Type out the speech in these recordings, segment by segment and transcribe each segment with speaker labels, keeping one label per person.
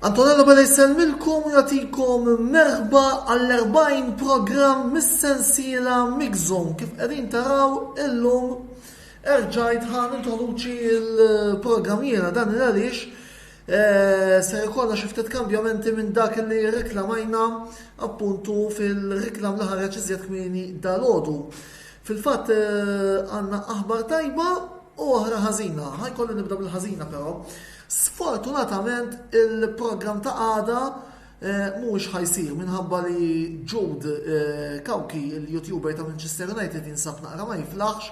Speaker 1: Antonella Bada jisselmilkom u jatikom merħba għall-40 program mis-sensiela Mixon kif qegħdin taraw illum Erġajt ħa nintroduċi l-programm jiena, dan il għaliex ser ikollna xi ftit kambjamenti minn dak li reklamajna appuntu fil-reklam li ħareġ iżjed kmieni dal-għodu. Fil-fatt għandna aħbar tajba u oħra ħażina. Ħajkolli nibda bil-ħażina però. Sfortunatament il-programm ta' għada Mhuwiex ħa jsir minħabba li Jude Cauchi, il-YouTuber ta' Manchester United jinsab naqra ma jiflaħx,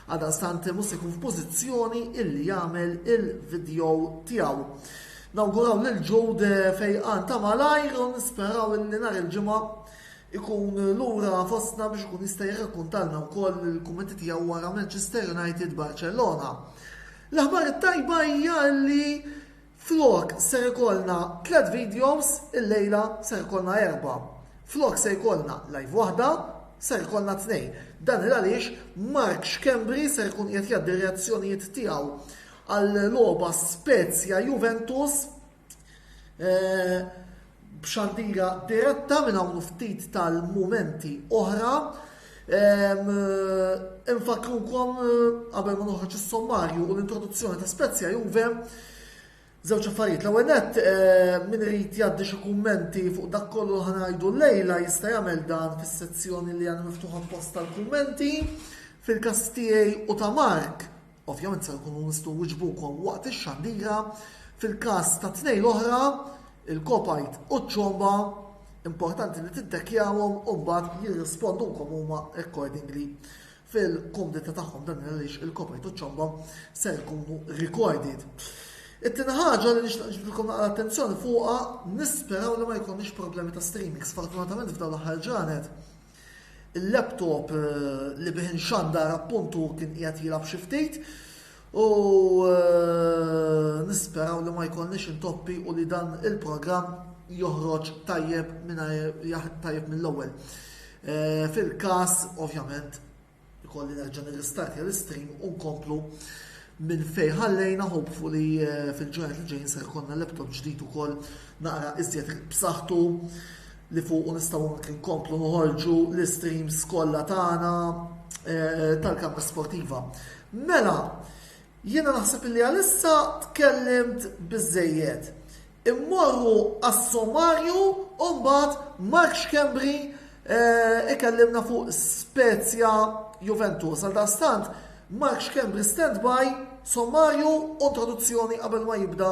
Speaker 1: għaldaqstant mhux se jkun f'pożizzjoni illi jagħmel il-video tiegħu. Nawguraw lil Jude fejqan ta' malajr u nisperaw illi nhar il-ġimgħa ikun lura fostna biex ikun jista' jirrakkuntalna wkoll il-kummenti tiegħu wara Manchester United Barcellona. L-aħbar it-tajba hija li Flok ser ikollna tliet videos illejla ser ikollna erbgħa. Flok se jkollna live waħda ser ikollna tnejn. Dan il għaliex Mark Schembri ser ikun qiegħed jgħaddi r-reazzjonijiet tiegħu għal logħba Spezia Juventus. b'xandira diretta minn hawn ftit tal-mumenti oħra. Infakkrukom qabel ma noħroġ is-sommarju u l-introduzzjoni ta' Spezia Juve Żewġ affarijiet, l-ewwel nett eh, min irid jgħaddi xi kummenti fuq dak kollu ħa ngħidu lejla jista' jagħmel dan fis-sezzjoni li għandha miftuħa post tal-kummenti fil-każ tiegħi u ta' Mark Ovvjament ser inkunu nistgħu nwiġbukom waqt ix-xandira. Fil-każ ta' tnejn l-oħra, il-kopajt u ċ-ċomba, importanti li tiddekjawhom u mbagħad jirrispondulkom huma accordingly fil-kumdita tagħhom dan għaliex il-kopajt u ċ-ċomba ser ikunu recorded. It-tieni ħaġa li nixtaq ġibdilkom naqra attenzjoni fuqha, nisperaw li ma jkollniex problemi ta' streaming. Sfortunatament f'dawn l-aħħar ġranet il-laptop li bih inxandar appuntu kien qiegħed jilgħab xi ftit u nisperaw li ma jkollniex intoppi u li dan il-programm joħroġ tajjeb tajjeb mill-ewwel. Fil-każ, ovvjament, Ikolli nerġa' nirristartja l-istream u nkomplu minn fejn ħallejna hopefully eh, fil-ġranet li ġejjin ser ikollna laptop ġdid ukoll naqra iżjed b'saħħtu li fuq nistgħu anke nkomplu noħorġu l-istreams kollha tagħna eh, tal-kamra sportiva. Mela, Jiena naħseb illi għalissa tkellimt biżżejjed. Immorru għas-sommarju u mbagħad Mark Schembri ikellimna fuq Spezia Juventus. Għaldaqstant, Mark Schembri standby, sommarju u introduzzjoni qabel ma jibda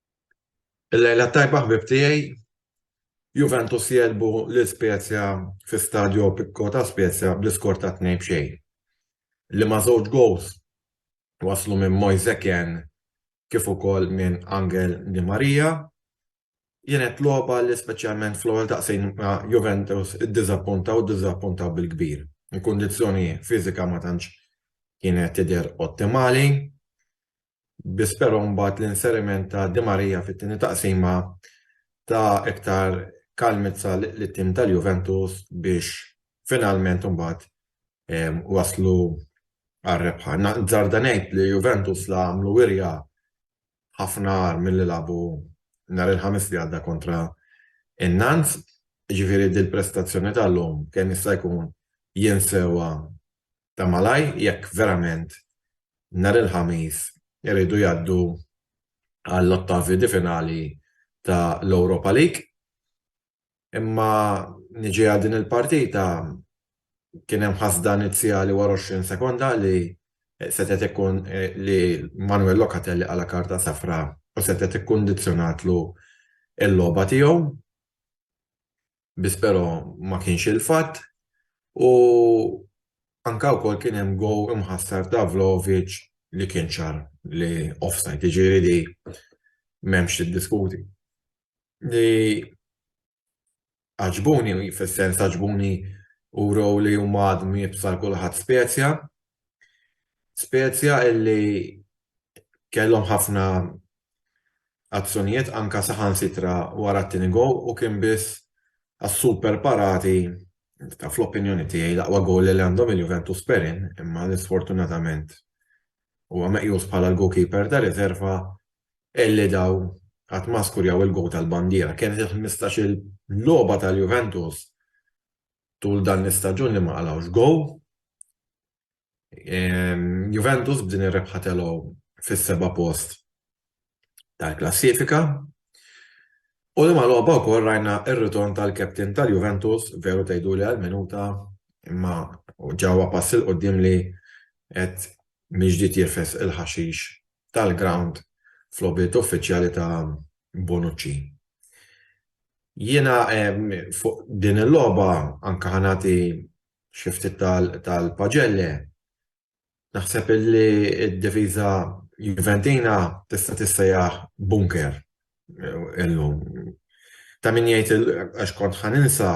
Speaker 2: Il-lejla t-tajba ħbieb tiegħi, Juventus jegħlbu lil Spezia fi Stadio Opico ta' Spezia bl-iskor ta' tnejn b'xejn, li ma' żewġ gowls waslu minn Moise Kean kif ukoll minn Angel Di Maria. Kienet logħba li speċjalment fl-ewwel daqsxejn ma' Juventus iddiżappunta u ddiżappunta bil-kbir. Il-kundizzjoni fiżika ma tantx kienet tidher ottimali. bi spero mbagħad l-inseriment ta' Di Maria fit-tieni taqsima ta iktar kalmizza lit-tim tal-Juventus biex finalment imbagħad waslu għar-rebħa. Nżarda ngħid li Juventus la għamlu wirja ħafna agħar milli lagħbu nhar il-Ħamis li għadda kontra in-Nantes, jiġifieri dil-prestazzjoni tal-lum kemm jista' jkun jinsewha ta' malajr jekk verament nhar il-Ħamis iridu jgħaddu għall-ottavi di finali ta' l-Europa League. Imma niġi għal din il-partita kien hemm ħasda inizjali wara 20 sekonda li setgħet ikkun li Manuel Locatelli qala' karta safra u setgħet ikkundizzjonatlu l-logħba tiegħu. biss però ma kienx il-fatt u anke wkoll kien hemm goal imħassar ta' Vlahovic li kien ċar li offside, jiġifieri di m'hemmx tiddiskuti. Li għaġbuni, fis-sens għaġbuni wrew li huma għadhom jibsa' kulħadd spezja Spezia illi kellhom ħafna azzjonijiet anke saħansitra wara t-tieni goal u kien biss għas-super parati ta' fl-opinjoni tiegħi l-aqwa goal illi għandhom il-Juventus Perin imma li sfortunatament huwa meqjus bħala l-goalkeeper ta' riserva illi daw għad ma skurjaw il-goal tal-bandiera. Kienet il-ħmistax-il logħba tal-Juventus tul dan l-istaġun li ma qalgħux goal. Juventus b'din ir-rebħa telgħu fis-seba' post tal-klassifika. U li ma logħba wkoll rajna r-ritorn tal-captain tal-Juventus, veru tgħiduli għal minuta, imma ġewwa pass il-quddiem li qed miġdied jirfes il-ħaxix tal-grawnd f'logħbiet uffiċjali ta' Bonucci. Jiena fuq din il-logħba anke ħa nagħti xi ftit tal-pagelle. Naħseb li d-difiża Juventina tista' tissejjaħ bunker illum. Ta' min jgħid għax kont ħa ninsa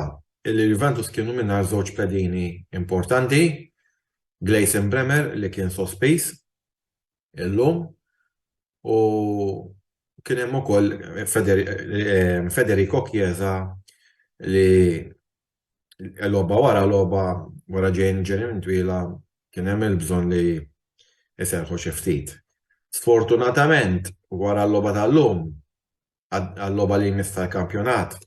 Speaker 2: li Juventus kienu mingħajr żewġ pedini importanti, Gleison Bremer li kien sospiż illum u kien hemm ukoll Federico Chiesa li logħba wara logħba wara ġejn ġenien twila kien hemm il-bżonn li jserrħu xi ftit. Sfortunatament wara l-logħba tal-lum għal-logħba li jmiss tal-kampjonat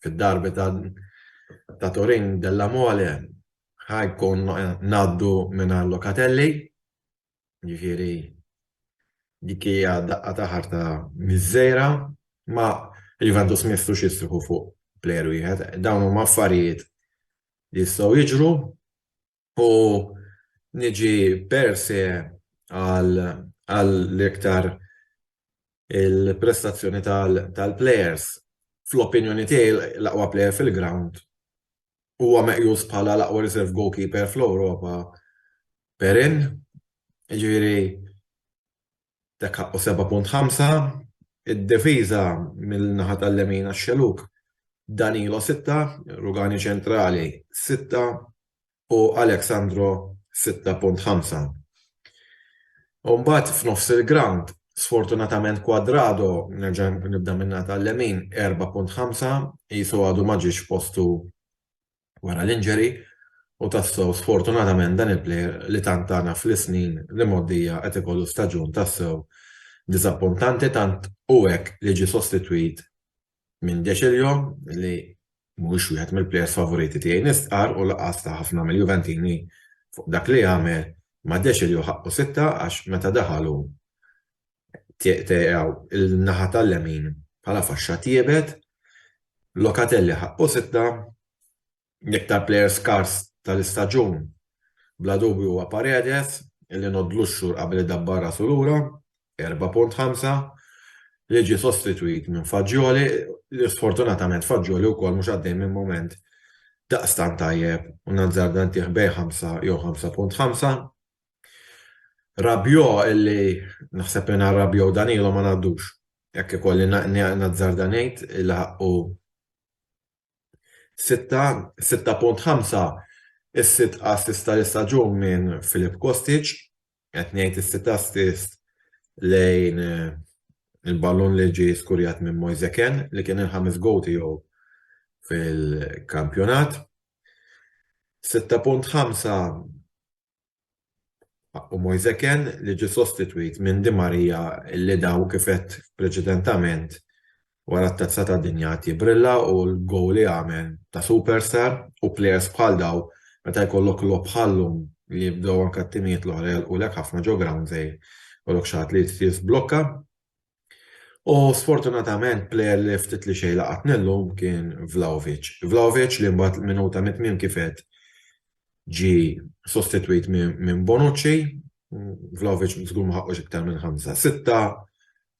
Speaker 2: fid-darbi ta' Turin della Mole ħa jkun ngħaddu mingħajr Locatelli. Ġifieri dik hija daqqa ta' ħarta miżżejra, ma Juventus ma jistgħux jistriħu fuq plejer wieħed. Dawn huma affarijiet li jistgħu jiġru u niġi per se għal iktar il-prestazzjoni tal-plejers. Fl-opinjoni tiegħi l-aqwa plejer fil-grawnd huwa meqjus bħala l-aqwa reserve goalkeeper fl-Ewropa, Perin. Jiġifieri Dak ħaqqu seba' punt ħamsa. Id-difiża mill-naħa tal-lemin għax-Xellug, Danilo sitta, Rugani ċentrali sitta u Alex Sandro sitta punt ħamsa. U mbagħad f'nofs il-grawnd, sfortunatament Cuadrado, nerġa' nibda min-naħa tal-lemin, erba' punt ħamsa, qisu għadu ma ġiex postu wara l-injury u tassew sfortunatament dan il-player li tant tana fl-isnin li mgħoddija qed ikollu staġun tassew diżappuntanti tant hu hekk li ġie sostitwit minn Decilio li mhuwiex wieħed mill-players favoriti tiegħi nistqarr u lanqas ta' ħafna mill-Juventini fuq dak li għamel ma' Decilio ħaqqu sitta għax meta daħal hu Tiegħu l-naħa tal-lemin bħala faxxa tiebet, Locatelli ħaqqu sitta, l-iktar plejer skars tal-istaġun bla dubju huwa Paredes li ngħoddlu x-xhur qabel idabbar rasu lura, 4.5, li ġie sostitwit minn Fagioli li sfortunatament Fagioli wkoll mhux għaddej minn mument daqstant tajjeb u nazzarda ntih bejn ħamsa jew 5.5. Rabiot illi naħseb mingħajr Rabiot u Danilo ma ngħaddux. Jekk ikolli nazzarda ngħid li ħaqqu sitta, sitta punt ħamsa is-sitt assist tal-istaġun minn Filip Kostic, qed ngħid is-sitt assist lejn il-ballun li ġie skurjat minn Moise Kean li kien il-ħames goal tiegħu fil-kampjonat. 6.5 U Moise Kean li ġie sostitwit minn Di Maria li daw kif għedt preċedentament wara t-Tazza tad-Dinja qed jibbrilla u l-gowl li għamel ta' superstar u plejers bħal daw meta jkollok logħob bħal llum li jibdew anke t-timijiet l-oħra jagħlqulek ħafna ġo ground żgħir jkollok xi ħadd li jrid jiżblokka. U sfortunatament plejer li ftit li xejn laqatni llum kien Vlahovic. Vlahovic li mbagħad minuta mit-tmiem kif għedt ġie sostitwit minn Bonucci. Vlahovic żgur ma ħaqqux iktar minn ħamsa, sitta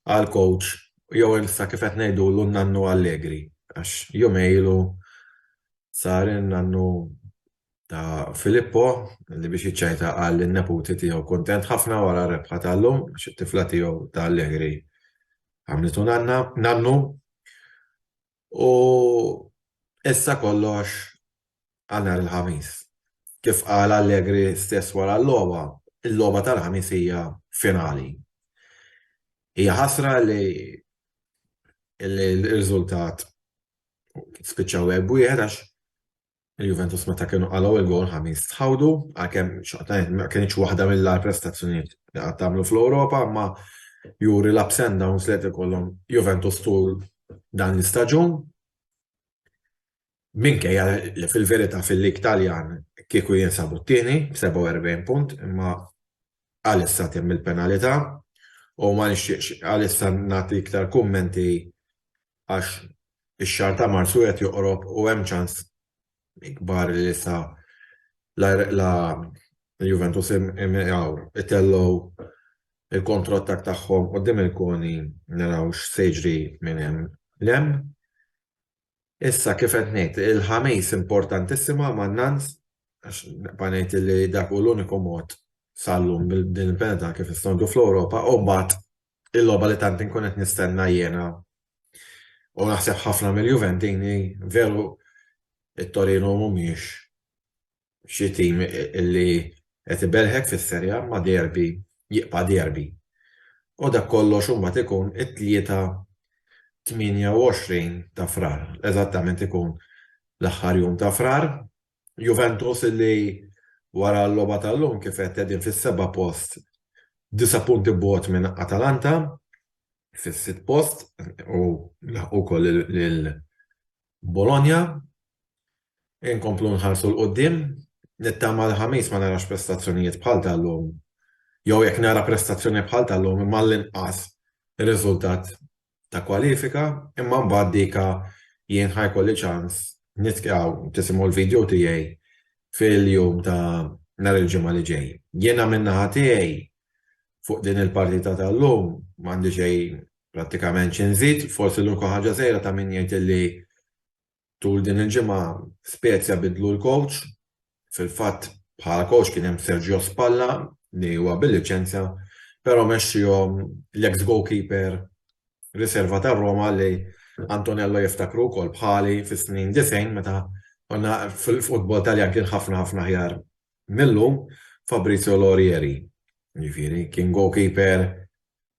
Speaker 2: għal coach jew issa kif qed ngħidulu n-nannu Allegri għax jumejn ilu sar in-nannu ta' Filippo li biex jiċċajta qal li n-neputi tiegħu kuntent ħafna wara r-rebħa ta' llum għax it-tifla tiegħu ta' Allegri għamlitu nannu u issa kollox għal nhar il-Ħamis. Kif qal Allegri stess wara l-logħba, il-logħba tal-Ħamis hija finali. Hija ħasra li l-riżultat spiċċaw wieħed għax Il-Juventus meta kienu qalgħu l-gowl Ħamis tħawdu, għalkemm xorta ma kinitx waħda mill-agħar prestazzjonijiet li qatt għamlu fl-Ewropa, imma juri l-ups and downs li qed ikollhom Juventus tul dan l-istaġun. Minkejja li fil-verità fil-Lig Taljan kieku jinsabu t-tieni b'47 punt, imma għalissa temm il-penalità u ma nixtieqx għalissa nagħti iktar kummenti għax ix-xahar ta' Marzu qiegħed joqrob u hemm ċans kbar li issa la Juventus imgħawr itellgħu l-kontrottakk tagħhom quddiem il-koni naraw x'se jiġri minn hemm 'l hemm. Issa kif qed ngħid, il-Ħamis importantissima ma' Nantes għax nibqa' ngħid li dak hu l-uniku mod sal-lum b'din il-penalità kif nistgħu ngħidu fl-Ewropa u mbagħad Il-logħba li tant inkun qed nistenna jiena u naħseb ħafna mill-Juventini, veru t-Torino mhumiex xi tim li qed ibelħek fis-Serie A imma derby jibqa' derby. U dak kollox imbagħad ikun it-Tlieta 28 ta' Frar, eżattament ikun l-aħħar jum ta' Frar, Juventus illi wara l-logħba tal-lum kif għedt qegħdin fis-seba' post disa' punti bogħod minn Atalanta fis-sitt post u laħqu wkoll lil Bologna. Inkomplu nħarsu 'l quddiem, nittama l-Ħamis ma narax prestazzjonijiet bħal tal-lum jew jekk nara prestazzjoni bħal tal-lum imma għall-inqas riżultat ta' kwalifika imma mbagħad dika jien ħa jkolli ċans nitkew tisimgħu l-video tiegħi fil-jum ta' nhar il-ġimgħa li ġej. Jiena min-naħa tiegħi fuq din il-partita tal-lum m'għandi xejn prattikament xi nżid, forsi l-unika ħaġa żgħira ta' min jgħid li Tul din il-ġimgħa Spezia biddlu l-kowċ. Fil-fatt, bħala kowċ kien hemm Sergio Spalla li huwa bil-liċenzja, però mexxiehom l-eks goalkeeper riserva tar-Roma li Antonello jiftakru wkoll bħali fis-snin 90 meta konna fil-futbol Taljan kien ħafna ħafna aħjar Mill-lum, Fabrizio Lorieri, jiġifieri, kien goalkeeper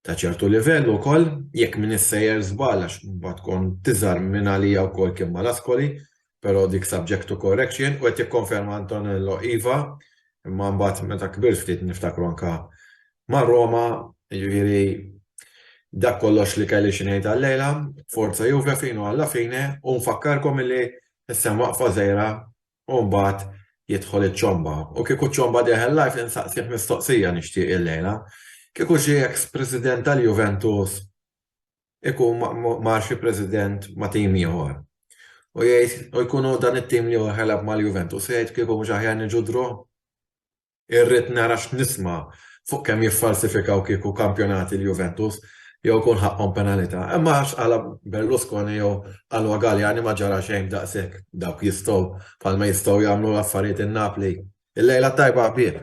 Speaker 2: ta' ċertu livell ukoll, jekk m'iniex sejjer żball għax imbagħad kont tiżgħar minn għalija wkoll kien mal-Ascoli, però dik subject to correction, u qed jikkonferma Antonello iva, imma mbagħad meta kbirt ftit niftakru anke ma' Roma, jiġifieri dak kollox li kelli xi ngħid għal-lejla, forza Juve fino alla fine u nfakkarkom illi issa hemm waqfa żgħira U mbagħad jidħol iċ-ċomba. U kieku ċ-ċomba deħel live insaqsih mistoqsija nixtieq illejla. Kieku xi eks president tal-Juventus ikun mar xi president ma' tim ieħor. U jgħid u jkun hu dan it-tim li hu ħelab mal-Juventus u jgħid kieku mhux aħjar niġu draw? Irrid nara x'nisma' fuq kemm jiffalsifikaw kieku kampjonati l-Juventus jew ikun ħaqqhom penalità. Imma għax qala Berlusconi jew qalwa Galliani ma ġara xejn b'daqshekk. Dawk jistgħu, bħalma jistgħu jagħmlu l-affarijiet in-Napli. Il-lejla t-tajba ħbieb!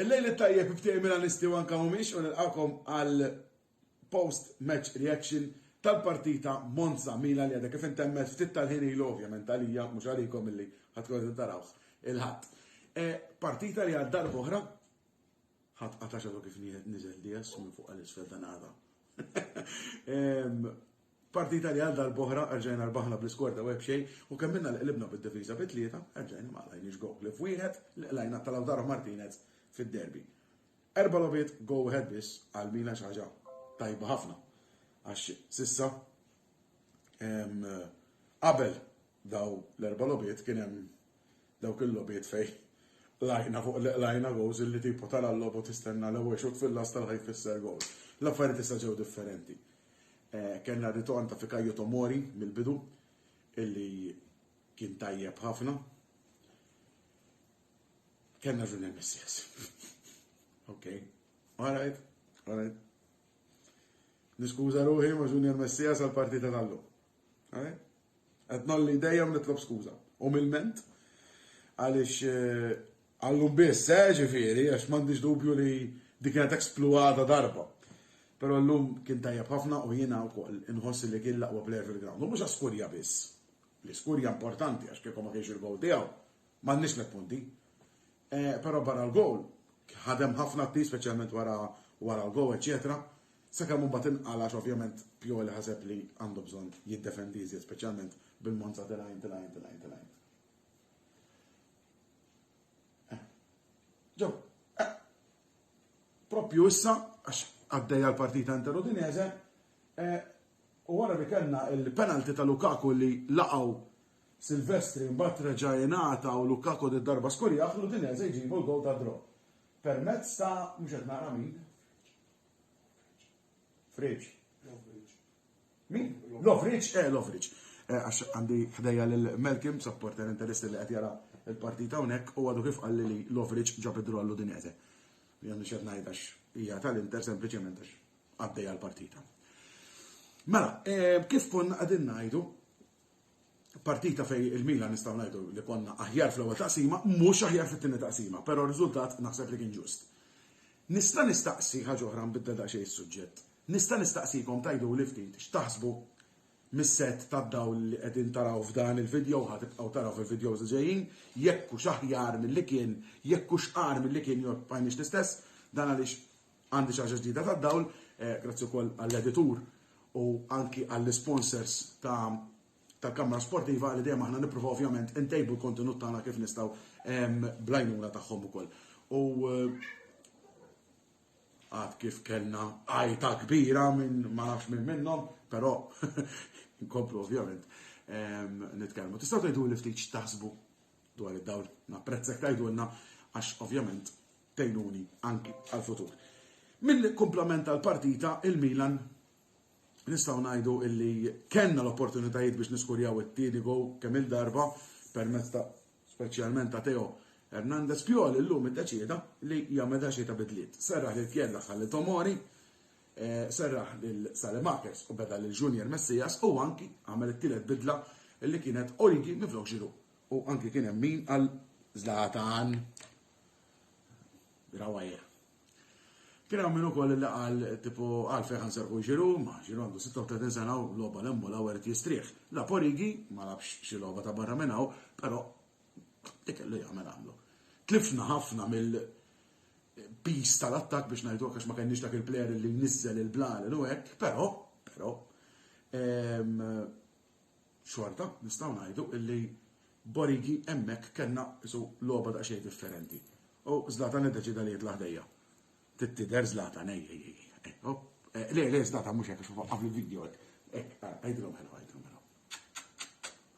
Speaker 3: Il-lejl tajjeb ftej Milanisti u anka mumiex u nilqakom għal post-match reaction tal-partita Monza Milan li għadha kif intemmet ftit tal-ħin ilu ovvjament għalija mhux għalikom illi ħadd tkun tarawh il-ħadd. E, partita li għad darba oħra Ħadd qata' xafu kif nieħed niżel dies minn fuq għal isfel dan għada. Partita li għal darb'oħra erġajna rbaħna bl-iskorta u xejn u kemm minna li qlibna bid-difiża bi tlieta erġajna ma qlajniex gol li f'wieħed li qlajna ta' Lautaro Martinez fid-derby. Erba' logħbiet go ahead biss għal Milan xi ħaġa tajba ħafna. Għax sissa qabel daw l-erba' logħbiet kien hemm Dawk il-logħbiet fejn qlajna fuq li qlajna goals illi tipo tara l-logħba u tistenna l-ewwel xutt fil-lasta li ħa jfisser goal. L-affarijiet issa ġew differenti. Eh, kellna ritorn ta' Fikayo Tomori mill-bidu illi kien tajjeb ħafna. Kellna Junior Messias. ok. All right. All right. Niskuża ruħi ma' Junior Messias għal partita tal-lum. Eh? Qed nolli dejjem nitlob skuża. U mill-ment għaliex eh, għallum biss, eh, ġifieri, għax m'għandix dubju li dik kienet ekspluata darba. Però llum kien tajjeb ħafna u jiena wkoll inħossi li kien laqwa player fil-ground. U mhux skurja biss. L-iskurja importanti għax kiekom ma kienx il-gowl tiegħu. M'għandniex tliet punti. Però barra l-gowl, ħadem ħafna t-tim speċjalment wara wara l-gowl, eċċetera, sakemm imbagħad inqala' għax ovvjament Pioli ħaseb li għandu bżonn jiddefendi iżjed speċjalment bil-Monza tilgħin, tilgħin, tilgħin, tilgħin. Ġew, propju issa, għax għaddejja l-partita inter Udinese, u wara li kellna il-penalti ta' Lukaku li laqgħu Silvestri mbagħad reġa' ingħata u Lukaku did-darba skurjah l-Udinese jġibu l-gowl tad-draw permezz ta' mhux qed nara min? Friġ. Min? Lovric, eh Lovric. Eh, għax għandi ħdejja lil Melkim, supporter interessi li qed jara l-partita hawnhekk u għadu kif qalli li Lovric ġab id-draw l-Udinese. Jien mhux qed ngħid għax hija tal-Inter sempliċement għax għaddejja l-partita. Mela, eh, kif konna qegħdin ngħidu, partita fejn il-Milan nistgħu ngħidu li konna aħjar fl-ewwel taqsima, mhux aħjar fit-tieni taqsima, però r-riżultat naħseb li kien ġust. Nista' nistaqsi ħaġa oħra nbiddel daqsxejn is-suġġett. Nista' nistaqsikom tgħiduli ftit x'taħsbu mis-set tad-dawl li qegħdin taraw f'dan il-video ħa tibqgħu taraw fil-videos li ġejjin, jekk hux aħjar milli kien, jekk hux qar milli kien jew bqajniex l-istess, dan għaliex Għandi xi ħaġa ġdida tad-dawl, grazzi wkoll għall-editur u anki għall-isponsors ta' tal-Kamra Sportiva li dejjem aħna nippruvaw ovvjament intejbu l-kontenut tagħna kif nistgħu bl-għajnuna tagħhom ukoll. U għad kif kellna għajta kbira minn ma nafx minn minnhom, però nkomplu ovvjament nitkellmu. Tistgħu tgħidu li ftit x'taħsbu dwar id-dawl. Napprezzek tgħidulna għax ovvjament tgħinuni anki għall-futur. Mill-kumplament tal-partita, il-Milan nistgħu ngħidu illi kellna l-opportunitajiet biex niskurjaw it-tieni go kemm il-darba permezz ta' speċjalment ta' Teo Hernandez Piol illum iddeċieda li jagħmel ta' xi ta' bidliet. Serraħ lil Kjella ħalli Tomori, eh, serraħ lil Salemakers u beda lil Junior Messias u anki għamel it-tielet bidla li kienet Origi miflok ġiru. U anki kien hemm min għal Zlatan. Grawajja. Kien hawn min ukoll li qal tipu għalfejn ħan serħu ġiru, ma ġiru għandu 36 sena u logħba l emmu l-għawar jistrieħ. La Porigi ma labx xi logħba ta' barra minn hawn, però ikellu jagħmel għamlu. Tlifna ħafna mill pis tal-attak biex ngħidu għax ma kenniex dak il-player li nizzel il-blar u hekk, però, però, ehm, Xorta nistgħu ngħidu li b'Origi hemmhekk kellna qisu logħba daqsxejn differenti u Zlatan iddeċieda li jitla' ħdejja. Trid tidher Zlatan ej ej ej ej opp eh, le le Zlatan mhux hekk għax waqqaf l-video hekk. Hekk, ara, għidilhom hello, għidilhom hello.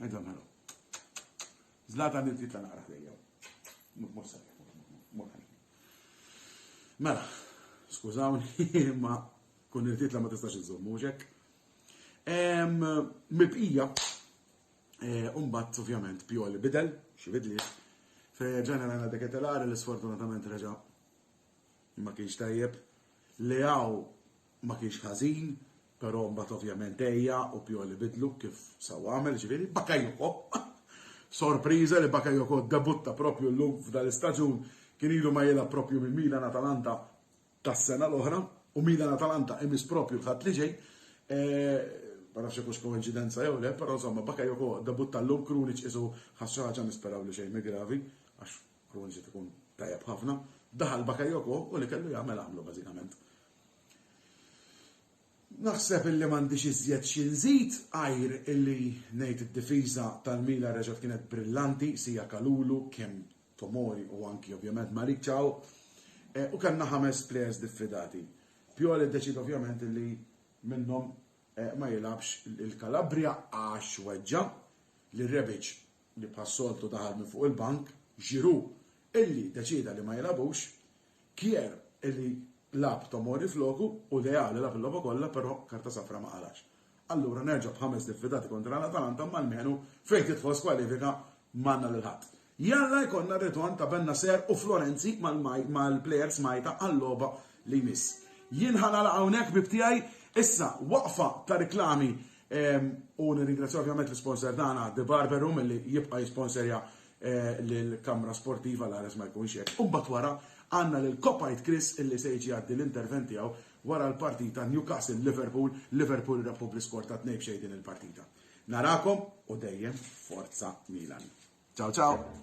Speaker 3: Għidilhom hello. Zlatan irid jitla' naqra ħdejja. Mhux se Mela, skużawni, ma kun irtitla ma tistax iżomm, mhux hekk? Mibqija, eh, umbat ovvjament Pioli bidel, xi bidli, fejn għana deketelari li sfortunatament reġa' ma kienx tajjeb, li għaw ma kienx ħażin, però mbagħad ovvjament ejja u Pioli bidlu kif saw għamel, ġifieri Bakajoko. Sorpriża li Bakajoko debutta propju llum f'dan l-istaġun kien ilu ma jilgħab propju minn Milan Atalanta tas-sena l-oħra u Milan Atalanta imiss proprju l-Ħadd li ġej. Ma nafx jekk hux koinċidenza jew le, però insomma Bakayoko debutta llum Krunic qisu ħass xi ħaġa nisperaw li xejn gravi għax Krunic qed ikun tajjeb ħafna. Daħal Bakayoko u li kellu jagħmel għamlu bażikament. Naħseb illi m'għandix iżjed xi nżid għajr illi ngħid id-difiża tal-Milan reġgħet kienet brillanti, Sija Kalulu, Kim Tomori u anki ovvjament Malik Chow. Eh, u kellna ħames players diffidati. Pioli deċid ovvjament li minnhom eh, ma jilabx il-Kalabria għax weġġa li Rebic li bħassoltu daħal minn fuq il-bank, ġiru illi deċida li ma jilabux, Kier li lagħab Tomori floku u Leao li lagħab il-logħba kollha però karta safra ma qalax. Allura nerġa' b'ħames diffidati kontra l-Atalanta imma almenu fejn tidħol skwalifika m'għandna lil ħadd. Jalla jkollna r-ritorn ta' Bennacer u Florenzi mal-plejers Malta għal-logħba li jmiss. Jien ħa nagħlaq hawnhekk ħbieb tiegħi. Issa waqfa ta' riklami u nirringrazzja ovvjament l-isponsor tagħna De Barbero milli jibqa' jisponserja lill-kamra sportiva l-ares ma jkunx hekk. U mbagħad wara għandna lil Kopajt Chris illi se jiġi jgħaddi l-intervent tiegħu wara l-partita Newcastle Liverpool, Liverpool rebħu bl-iskor ta' tnejn b'xejn din il-partita. Narakom u dejjem forza Milan. Ciao ciao!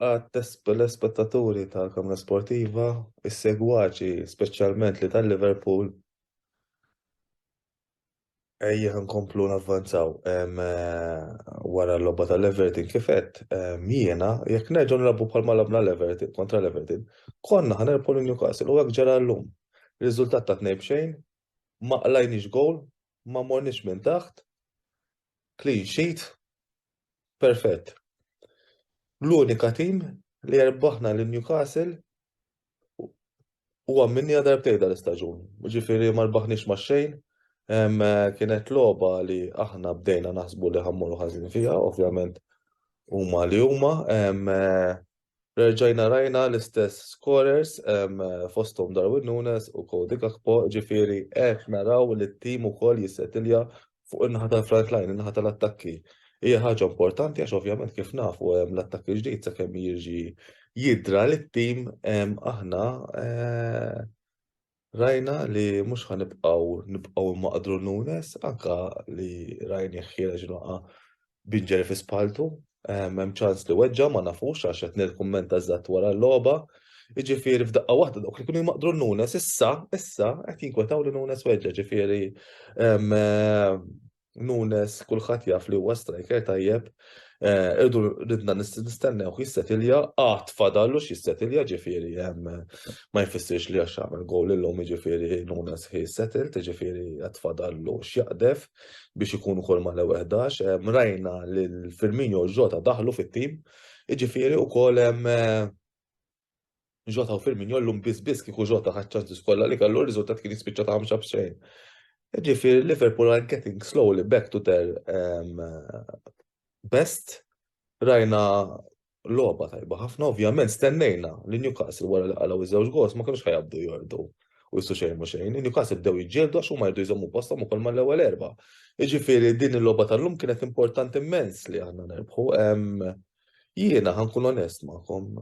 Speaker 4: l-ispettaturi tal-kamra sportiva, is-segwaċi speċjalment li tal-Liverpool. Ejja nkomplu navvanzaw wara l-logħba tal-Everton kif qed jiena jekk nerġgħu nilagħbu bħalma labna l-Everton kontra l-Everton, konna ħanerpu lil Newcastle u hekk ġara llum. Riżultat ta' tnejn b'xejn, ma qlajniex gowl, ma morniex minn taħt, clean sheet, perfett. L-unika tim li erbaħna lil Newcastle huwa minnija darbtejn dal-istaġun. Ġifieri ma rbaħniex ma' xejn, kienet logħba li aħna bdejna naħsbu li ħammuru ħażin fiha, ovvjament huma li huma, Rġajna rajna l-istess scorers fosthom Darwin Nunez u Cody Gakpo, ġifieri qed naraw li t-tim ukoll jissetilja fuq in-naħa tal-front line, in-naħa tal-attakki. Hija ħaġa importanti għax ovvjament kif nafu l-attakk il-ġdid sakemm jiġi jidra lit-tim aħna Rajna li mhux ħa nibqgħu nibqgħu nmaqdru Nunes, anke li rajnih ħiereġ il-waqgħa b'injury fi spalltu. Hemm ċans li weġġa' ma nafux għax qed nirkummenta eżatt wara l-logħba. Jiġifieri f'daqqa waħda dawk li kienu jmaqdru Nunes issa, issa qed jinkwetaw li Nunes weġġa', ġifieri Nunes kulħadd jaf li huwa striker tajjeb, irdu ridna nistennewh jissetilja, għad fadallu x'jissetilja ġifieri ma jfissirx li għax għamel gowl illum jiġifieri Nunes ħi settled, jiġifieri għad fadallu x'jaqdef biex ikun ukoll mal-ewwel ħdax. Rajna lil Firmino u Jota daħlu fit-tim, jiġifieri wkoll hemm Jota u Firmin jollum biss biss kieku Jota ħadd ċansis kollha li kellu r-riżultat kien jispiċċa ta' ħamsa b'xejn. Ġifieri Liverpool are getting slowly back to their um, best. Rajna logħba tajba ħafna, ovvjament stennejna li Newcastle wara li qalgħu iż-żewġ gols ma kienux ħajabdu jordu u jissu xejn u xejn. Newcastle bdew jġildu għax huma jridu jżommu postom ukoll mal-ewwel erba'. Jiġifieri din il-logħba tal-lum kienet importanti immens li aħna nerbħu. Jiena ħa nkun onest magħkom,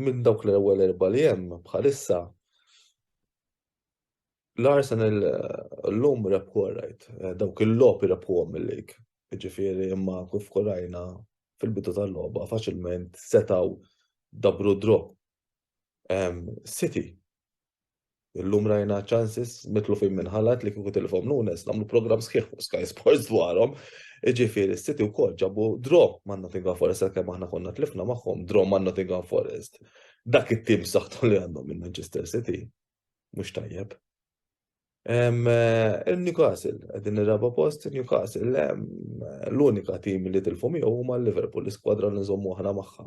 Speaker 4: minn dawk l-ewwel erba' li hemm bħalissa l-Arsenal eh, l-lum rebħu għarajt, eh, dawk il-lop rebħu għom il-lig. Ġifiri imma kif korajna fil-bidu tal-loba faċilment setaw dabru drop City. Illum rajna ċansis mitlufin minn ħalat li kieku tilfhom Nunes nagħmlu programm sħiħ fuq Sky Sports dwarhom. Iġifieri s-City wkoll ġabu draw ma' Nottingham Forest kemm aħna konna tlifna magħhom draw ma' Nottingham Forest. Dak it-tim saħħtu li għandhom minn Manchester City. Mhux tajjeb. Eh, Newcastle, għedin il-raba post, Newcastle, l-unika tim li tilfu miegħu huma Liverpool, l-iskwadra li nżommu aħna magħha.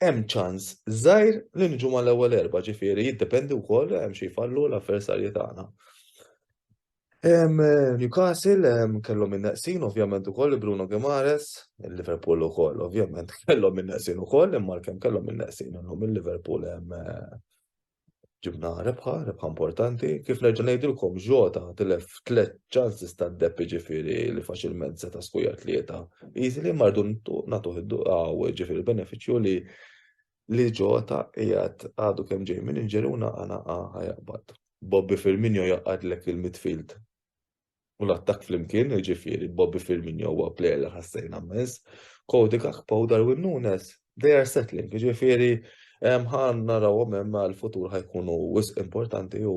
Speaker 4: hemm ċans żgħir li niġu mal-ewwel erba', ġifieri jiddependi wkoll hemm xi jfallu l-avversarji tagħna. Newcastle kellhom in-neqsin ovvjament ukoll Bruno Guimaraes, il-Liverpool ukoll ovvjament kellhom in-neqsin ukoll imma għalkemm kellhom in-neqsin illum il-Liverpool hemm Ġibna rebħa, rebħa importanti, kif nerġa' ngħidilkom ġota tilef tliet ċansis ta' depp ġifieri li faċilment seta' skuja tlieta. Easily mardu nagħtuh id-duqaw ġifieri benefiċċju li li ġota qiegħed għadu kemm ġej minn inġeri u naqa' naqa' ħajaqbad. Bobby Firmino jaqgħadlek il-midfield u l-attakk flimkien, jiġifieri Bobby Firmino huwa plejer li ħassejna mmens, Cody Gakpo u Darwin Nunez, they are settling, jiġifieri ħa narawhom hemm għall-futur ħa jkunu wisq importanti u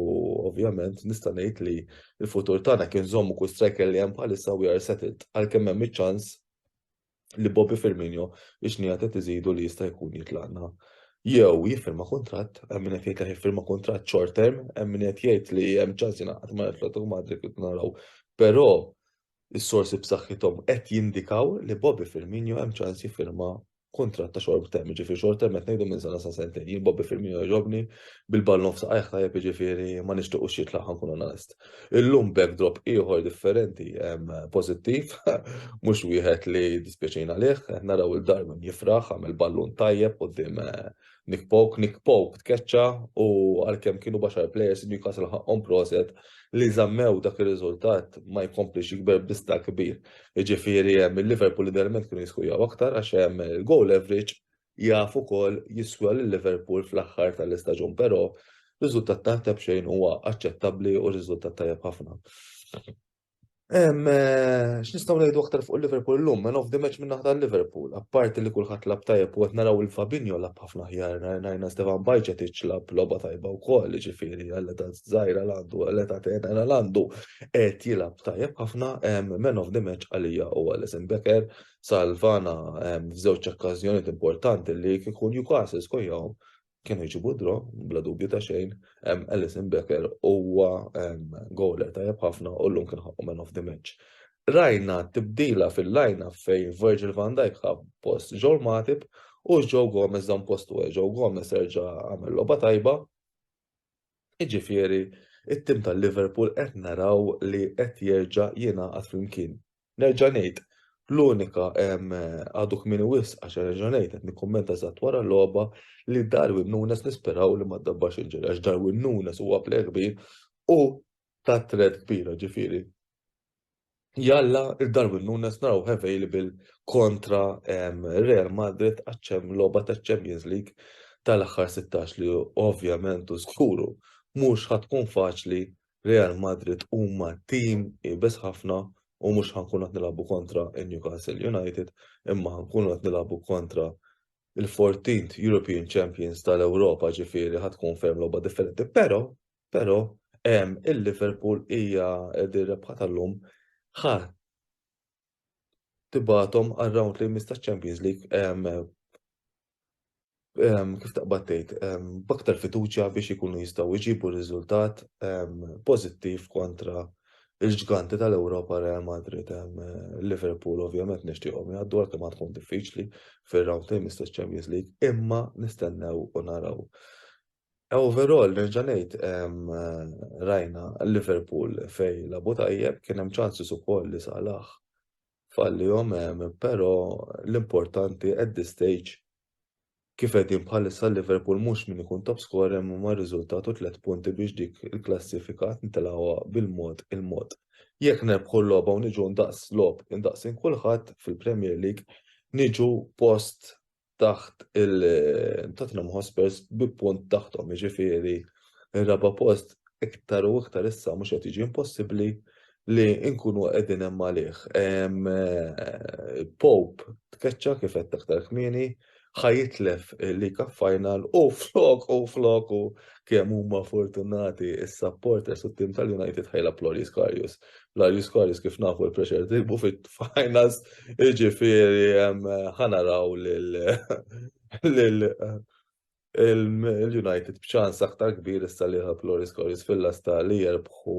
Speaker 4: ovvjament nista' ngħid li l-futur tagħna kien żommu kull striker li hemm bħalissa we are settled għalkemm hemm iċ-ċans li Bobby Firmino ix-xnejat qed iżidu li jista' jkun jitlaqna jew jiffirma kuntratt, hemm min qed jgħid li jiffirma kuntratt short term, hemm min qed jgħid li hemm ċans jingħaqad ma' Atletico Madrid kif naraw. Però is-sorsi b'saħħithom qed jindikaw li Bobby Firmino hemm ċans jiffirma kuntratt ta' short term, ġifieri short term qed ngħidu minn sena sa sentejn. Jien Bobby Firmino jogħġobni bil-ball nofs qajħ tajjeb jiġifieri ma nixtiequx jitlaq ħankun onest. Illum backdrop ieħor differenti, pożittiv, mhux wieħed li dispjaċin għalih, qed naraw lil Darwin jifraħ għamel ballun tajjeb quddiem eh, Nick Poke, Nick Poke tkeċċa u għalkemm kienu baxar players Newcastle ħaqqhom proset li żammew dak ir-riżultat ma jkomplix jikber bista kbir. Jiġifieri hemm il-Liverpool idealment kienu jiskujaw aktar għax hemm il-goal average jaf ukoll jiswa lil Liverpool fl-aħħar tal-istaġun però riżultat taħt xejn huwa aċċettabbli u riżultat tajjeb ħafna. Eh, x'nistgħu ngħidu aktar fuq Liverpool llum, man of the match minn naħta Liverpool, apparti li kulħadd lab tajjeb u qed naraw il-Fabinho lab ħafna ħjar, ngħajna Stefan Bajċet iċlab logħba tajba wkoll, ġifieri għal ta' żgħira għandu, għal ta' tena għandu qed jilab tajjeb ħafna man of the match għalija u għal Becker salvana ehm, f'żewġ okkażjonijiet importanti li kif ikun Newcastle skojjahom kienu jġibu dro, bla dubju ta' xejn, ehm, Alison Becker huwa ehm, goler tajjeb ħafna u llum kien ħaqqu man of the match. Rajna tibdila fil-lajna fejn Virgil van Dijk ħab post Joel Matip u Joe Gomez dan postu għaj. Joe Gomez erġa' għamel loba tajba. Iġifieri, it-tim tal-Liverpool qed naraw li qed jerġa' jingħaqad flimkien Nerġa' ngħid, l-unika, għadu kmieni wisq għax nerġa' ngħid, qed nikkummenta eżatt wara l-logħba, li Darwin Nunez nisperaw li ma ddabbax il-ġiri għax Darwin Nunez huwa plejer kbir u ta' threat kbira, ġifieri jalla Darwin Nunez narawh available kontra Real Madrid għax hemm logħba taċ-Champions League tal-aħħar sittax li ovvjament u żguru mhux ħa tkun faċli Real Madrid huma tim iebes ħafna u mhux ħa nkunu qed nilagħbu kontra n-Newcastle United imma ħa nkunu qed nilagħbu kontra l-fourteenth European Champions tal-Ewropa ġifieri ħa tkun ferm logħba differenti. Però, però ehm, il-Liverpool hija din rebħa tal-lum ħa tibgħathom għar-round li jmiss taċ-Champions League kif taqbad tgħid b'aktar fiduċja biex ikunu jistgħu jġibu riżultat pożittiv kontra l-ġganti tal-Ewropa Real Madrid. Liverpool ovvjament nixtieqhom jgħaddu għalkemm għad tkun diffiċli fir-round li jmiss taċ-Champions League, imma nistennew u naraw. Overall, nerġa' ngħid, rajna Liverpool fejn lagħbu tajjeb, kien hemm ċansis ukoll li Salah fallihom, però l-importanti at this stage kif qegħdin bħalissa Liverpool mhux min ikun top scorer imma r-riżultat u tliet punti biex dik il-klassifika nitilgħuha bil-mod il-mod. Jekk nerbħu l-logħba u niġu ndaqs logħob indaqsin kulħadd fil-Premier League niġu post taħt il-Tottenham Hotspurs bi punt taħthom, jiġifieri r-raba' post iktar u iktar issa mhux qed jiġi impossibbli li nkunu qegħdin hemm għalih. Pope tkeċċa kif qed aktar kmieni, ħajitlef li Cup Final u flok u flok u kemm huma fortunati is-supporters u t-tim tal-United ħajla Ploris Karius. L-Irish Quarries kif nafu l-pressure tilbu fit-finals, jiġifieri ħa naraw lil l-United b'ċans aktar kbir issa li jilħaq l-Irish Quarries fil-lasta li jerbħu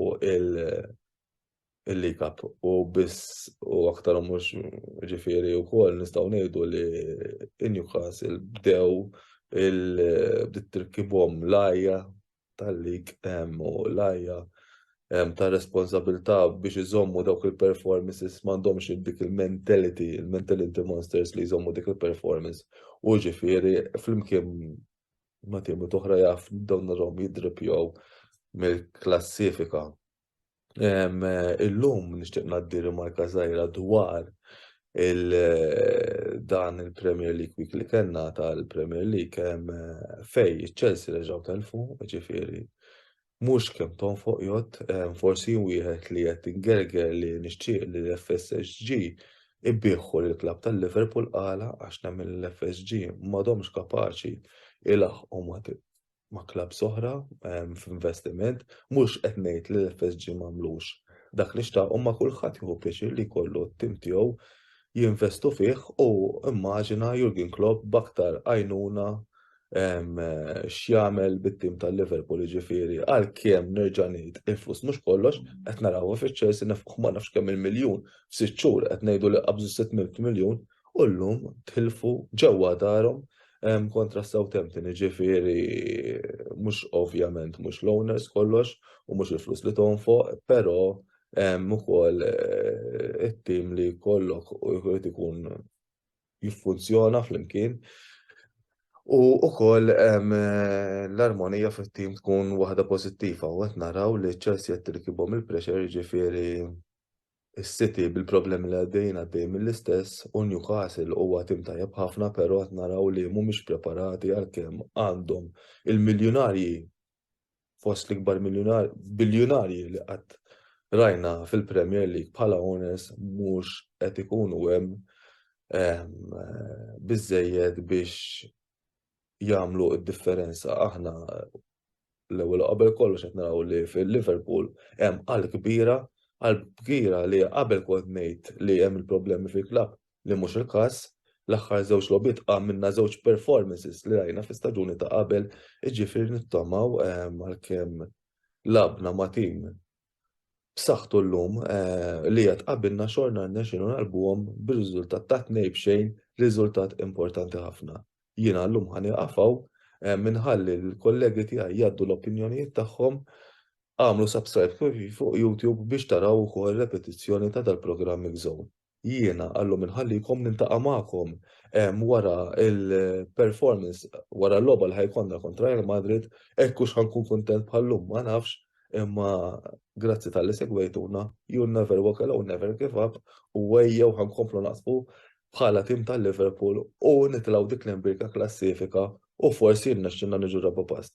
Speaker 4: l-League Cup. U biss u aktar u mhux jiġifieri wkoll nistgħu ngħidu li Newcastle bdew il-bdiet tirkibhom l-għajja tal-lig u l-għajja ta' responsabilità biex iżommu dawk il-performances m'għandhomx dik il-mentality, il-mentality monsters li jżommu dik il-performance. U ġifieri flimkien ma' timu toħra jaf dawn narhom jidripjaw mill-klassifika. Illum nixtieq ngħaddi rimarka żgħira dwar il dan il-Premier League Week li kellna tal-Premier League fej iċ-Chelsea reġgħu telfu, ġifieri mhux kemm tonfoq jgħod, forsi wieħed li qed ingerger li nixtieq li l-FSG ibbieħħu lil klabb tal-Liverpool qala għax nemmen l-FSG m'għadhomx kapaċi ilaħħqu ma' ma' klabbs oħra ehm, f'investiment, mhux qed ngħid li l-FSG m'għamlux dak li xtaq u ma' kulħadd jieħu pjaċir li jkollu t-tim tiegħu jinvestu fih u immaġina Jurgen Klopp b'aktar għajnuna ehm, x'jagħmel bit-tim tal-Liverpool ġifieri għalkemm nerġa' ngħid il-flus mhux kollox qed narawha fiċ-Chelsea nefqu ma nafx kemm il-miljun f'sitt xhur qed ngħidu li qabżu 600 miljun u llum tilfu ġewwa darhom kontra Southampton, jiġifieri mhux ovvjament mhux l-owners kollox u mhux il-flus li tonfoq, però ukoll eh, it-tim li kollok jrid ikun jiffunzjona flimkien. U ukoll eh, l-armonija fit-tim tkun waħda pożittiva u qed naraw li Chelsea qed tirkibhom il-pressure jiġifieri Is-City bil-problemi li għaddejjin għaddej mill-istess u Newcastle huwa tim tajjeb ħafna pero qed naraw li mhumiex preparati għalkemm għandhom il-miljunarji fost l-ikbar biljunarji li qatt rajna fil-Premier League bħala owners mhux qed ikunu hemm biżżejjed biex jagħmlu d-differenza. Aħna l-ewwel u qabel kollox qed naraw li fil-Liverpool hemm qalb kbira, qalb kbira li qabel kont ngħid li hemm il-problemi fil-klabb li mhux il-każ. L-aħħar żewġ logħbiet għamilna żewġ performances li rajna fl-istaġuni ta' qabel, jiġifieri nittamaw għalkemm lagħbna ma' tim b'saħħtu llum li qed qabilna xorna rnexxielna ngħalbuhom bir-riżultat ta' tnejn b'xejn, riżultat importanti ħafna. Jiena llum ħa nieqaf hawn, inħalli lill-kollegi tiegħi jgħaddu l-opinjonijiet tagħhom. Agħmlu subscribe fuq YouTube biex taraw ukoll repetizzjoni ta' dal-programm Mix Zone. jiena għallum inħallikom niltaqa' magħkom wara il-performance wara l-logħba li ħajkonna kontra Real Madrid, hekk hux ħankun kuntent bħal-lum ma nafx, imma grazzi tal-li segwejtuna, you'll never walk alone, never give up, u ejjew ħankomplu naqsfu bħala tim tal-Liverpool u nitilgħu dik l-imbirka klassifika u forsi jirnexxilna niġu raba' post.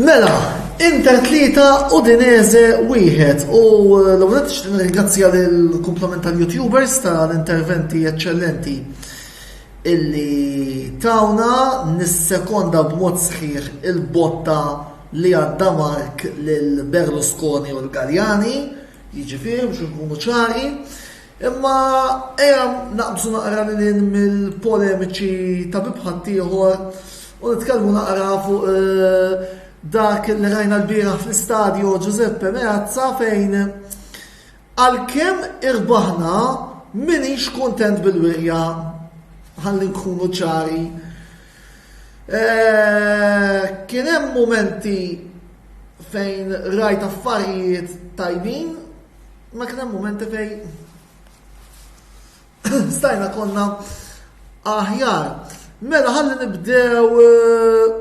Speaker 1: Mela, Inter tlieta u Dineze wieħed u l-għunet ringrazzja l-komplement tal-youtubers tal-interventi eccellenti illi tawna nis-sekonda b'mod sħiħ il-botta li għadda Mark lil Berlusconi u l-Galjani Jiġifieri biex inkunu ċari, imma ejja naqbżu naqra lil hinn mill-polemiċi ta' bieb ħaddieħor u nitkellmu naqra fuq dak li rajna lbieraħ fl-Istadio Giuseppe Meazza fejn għalkemm irbaħna m'iniex kuntent bil-wirja, ħalli nkunu ċari. Kien hemm mumenti fejn rajt affarijiet tajbin, ma kien hemm mumenti fejn stajna konna aħjar. Mela ħalli nibdew eh,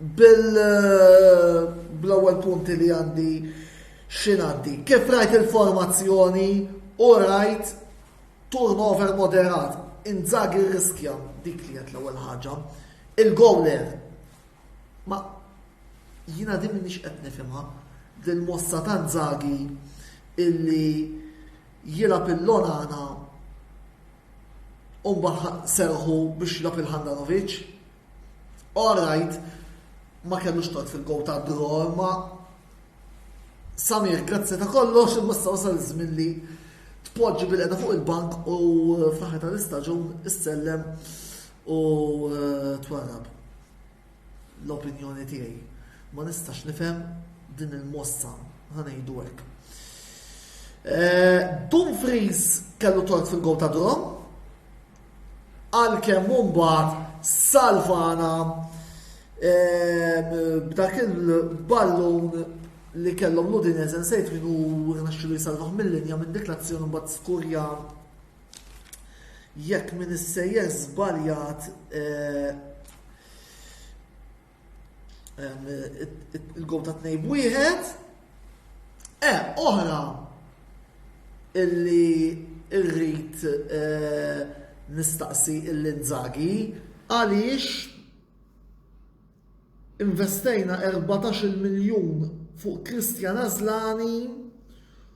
Speaker 1: bil eh, bl-ewwel punti li għandi xinaddi. Kif rajt il-formazzjoni u rajt Turnover moderat, Inzaghi rriskja dik li qed l-ewwel ħaġa. Il-gowler ma jiena din minix qed nifhimha din mossa ta' Inzaghi illi jilgħab il-lonana u mbagħad serħu biex jilgħab il-Handanovic Alright, ma kellux tot fil-gow ta' Bro, ma Samir, grazzi ta' kollox, imma s wasal żmien li tpoġġi bil-qeda fuq il-bank u eh, fl-aħħar tal-istaġun issellem u eh, twarrab l-opinjoni tiegħi. Ma nistax nifhem din il-mossa ħanejdu hekk. Eh, Dumfries kellu tort fil-gow ta' Drom, għalkemm imbagħad salvana b'dak il-ballun li kellhom l-Udinese nsejt min hu rnexxilu jsalvah mill-linja minn dik l-azzjoni mbagħad skurja jekk min issejjer żbaljat il-gol ta' tnejn wieħed. E, oħra illi irrid e, nistaqsi il-linzagi għaliex investejna 14 miljun fuq Kristjan Azlani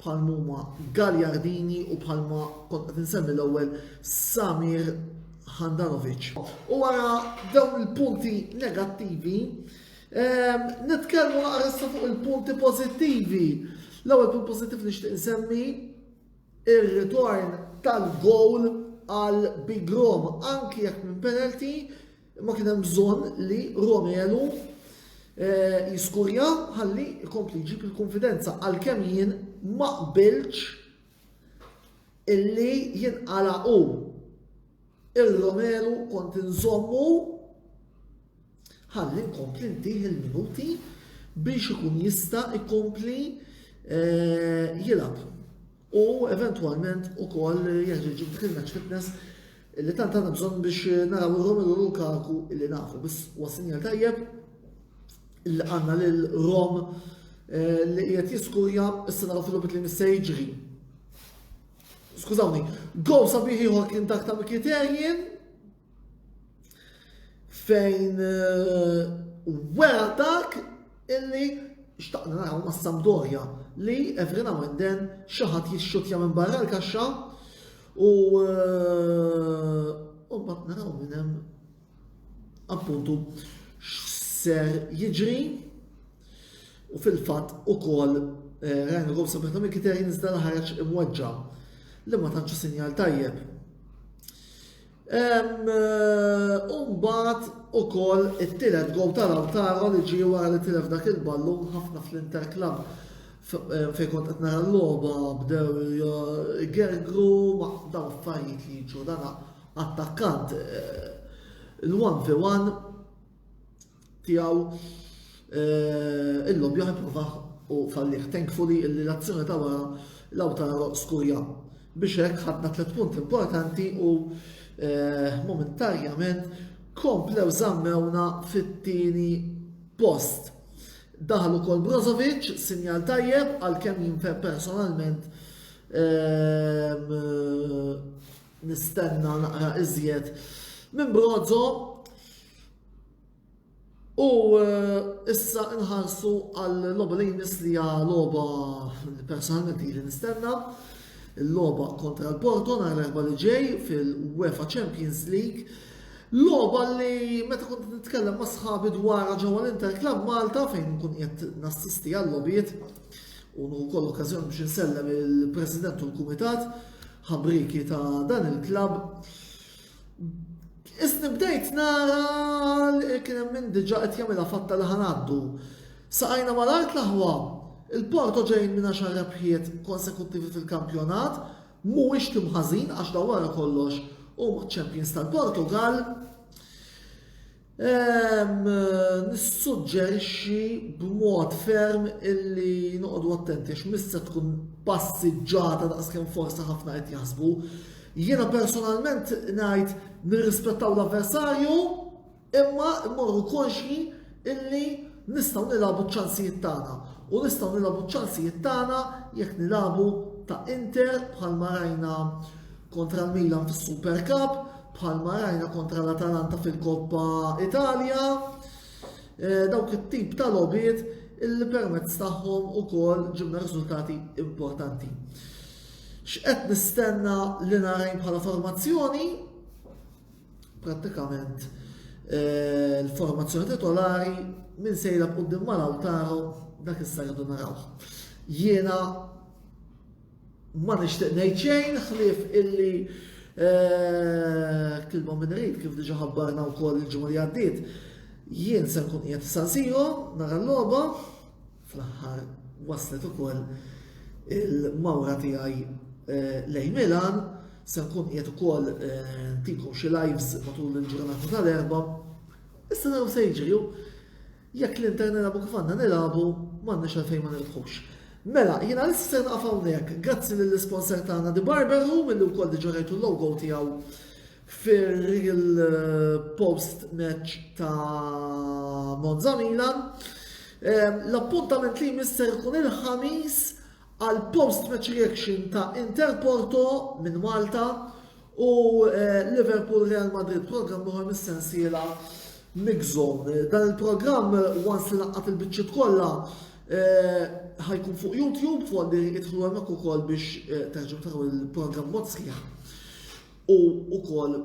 Speaker 1: bħal mhuma Gagliardini u bħalma kont qed insemmi l-ewwel Samir Handanovic. U wara dawn il-punti negattivi, ehm, nitkellmu naqressa fuq il-punti pożittivi. L-ewwel punt pożittiv li xtieq insemmi ir-ritorn tal-gowl għal Big Rom anki jekk minn penalty Imma kien hemm bżonn li Romelu eh, jiskurja ħalli jkompli jġib il-konfidenza għalkemm jien ma qbilx illi jinqala u il-Romelu kont inżommu ħalli nkompli ntih il-minuti biex ikun jista' ikompli eh, jilab. u eventwalment ukoll jeħtieġu dik il-match fitness li tant għandna bżonn biex naraw ir-Romelu Lukaku illi nafu biss huwa sinjal tajjeb illi għandna lil Rom eh, li qiegħed jiskurja issa naraw fil-lobit li missa jiġri. Skużawni, gow sabiħi ieħor kien dak ta' Mkhitaryan fejn wegħadak illi xtaqna naraw ma' Sampdoria li every now and then xaħat jixxutja minn barra l-kaxxa u eh, u ma naraw minn hemm appuntu x'ser jiġri u fil-fatt ukoll eh, Ryan Robson meta minn kiter jinżda ħareġ imweġġa li ma tantx sinjal tajjeb. Hemm imbagħad ukoll it-tielet gowl ta' Lautaro li ġie wara li tilef dak il-ballun ħafna fl-Inter Club fejn kont qed nara l-logħba bdew gergru ma dawn affarijiet li jiġu dan attakkant l-1 fi 1 tiegħu illum joħed provah u fallih. Thankfully illi l-azzjoni ta' wara Lautaro skurja. Biex hekk ħadna tliet punti importanti u eh, momentarjament komplew zammewna fit-tieni post. Daħal ukoll Brozovic, sinjal tajjeb għal kemm jinfer personalment ehm, nistenna naqra iżjed minn Brozo U issa nħarsu għal loba li jmiss li hija loba li personalment li nistenna. Il-loba kontra l-Porto nhar l-erba' li ġej fil-UEFA Champions League. Loba li meta kont nitkellem ma' sħabi dwar ġewwa l-Inter Club Malta fejn nkun qed nassisti għal lobijiet u wkoll okkażjoni biex insellem il-President u l-Kumitat ħabriki ta' dan il-klabb. Isni bdejt nara li kien hemm min diġà qed jagħmilha fatta li ħanaddu. Saqajna mal-art l-aħwa. Il-Porto ġejjin minn għaxar rebħiet konsekuttivi fil-kampjonat, mhuwiex tim ħażin għax dawn wara kollox huma ċ-champions tal-Portugall. Nissuġġerixxi b'mod ferm illi noqogħdu attenti għax mis se tkun passiġġata daqskemm forsi ħafna qed jaħsbu. Jiena personalment ngħid nirrispettaw l-avversarju imma mmorru konxji illi nistgħu nilagħbu ċ-ċansijiet tagħna u nistgħu nilagħbu ċ-ċansijiet tagħna jekk nilagħbu ta' Inter bħalma rajna kontra l-Milan fis-Super Cup, bħalma rajna kontra l-Atalanta fil-Koppa Italja. Eh, dawk it-tip ta' lobiet illi permezz tagħhom ukoll ġibna riżultati importanti. X'qed nistenna li narajn bħala formazzjoni? Prattikament eh, l-formazzjoni titolari minn sejla b'qudiem mal-awtaru dak is-sajdu narawh. Jiena Ma nixtieq ngħid xejn ħlief illi kilma minn rid kif diġà ħabbarna wkoll il-ġimgħa li għaddiet. Jien se nkun qiegħed San Siro nara l-logħba fl-aħħar waslet ukoll il-mawra tiegħi eh, lejn Milan, se nkun qiegħed ukoll eh, ntikom xi lives matul il-ġurnata tal-erba'. Issa naraw se jiġri Jekk l-Inter nilagħbu kif għandna nilagħbu, m'għandniex għalfejn ma nirbħux. Mela, jiena għalissa se nieqaf hawnhekk. Grazzi lill-isponsor tagħna The Barber Room illi wkoll diġà rajtu l-logo tiegħu fir-real eh, post match ta' Monza Milan. Eh, l-appuntament li jmisser kun il-ħamis għal post-match reaction ta' Inter Porto minn Malta u eh, Liverpool Real Madrid programm uħor mis-sensiela Mix Zone. Dan il-programm once li naqqat il-biċċiet kollha eh, ħajkun fuq YouTube fuq li idħlu hemmhekk ukoll biex eh, terġgħu taraw il-programm mod sħiħ. U ukoll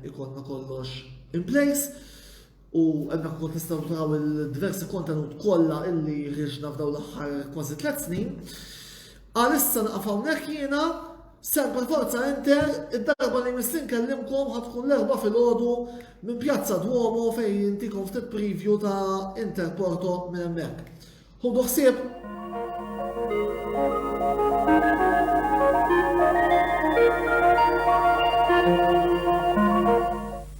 Speaker 1: ikollna kollox in place. u hemmhekk ukoll tistgħu taraw il-diversi kontenut kollha illi ħriġna f'daw l-aħħar kważi tliet snin. Għalissa naqaf hawnhekk jiena Semper Forza Inter, id-darba li missin kellimkom ħatkun l-erba fil-ħodu minn Pjazza Duomo fejn jintikom ftit preview ta' Inter Porto minn hemmhekk. Ħudu ħsieb!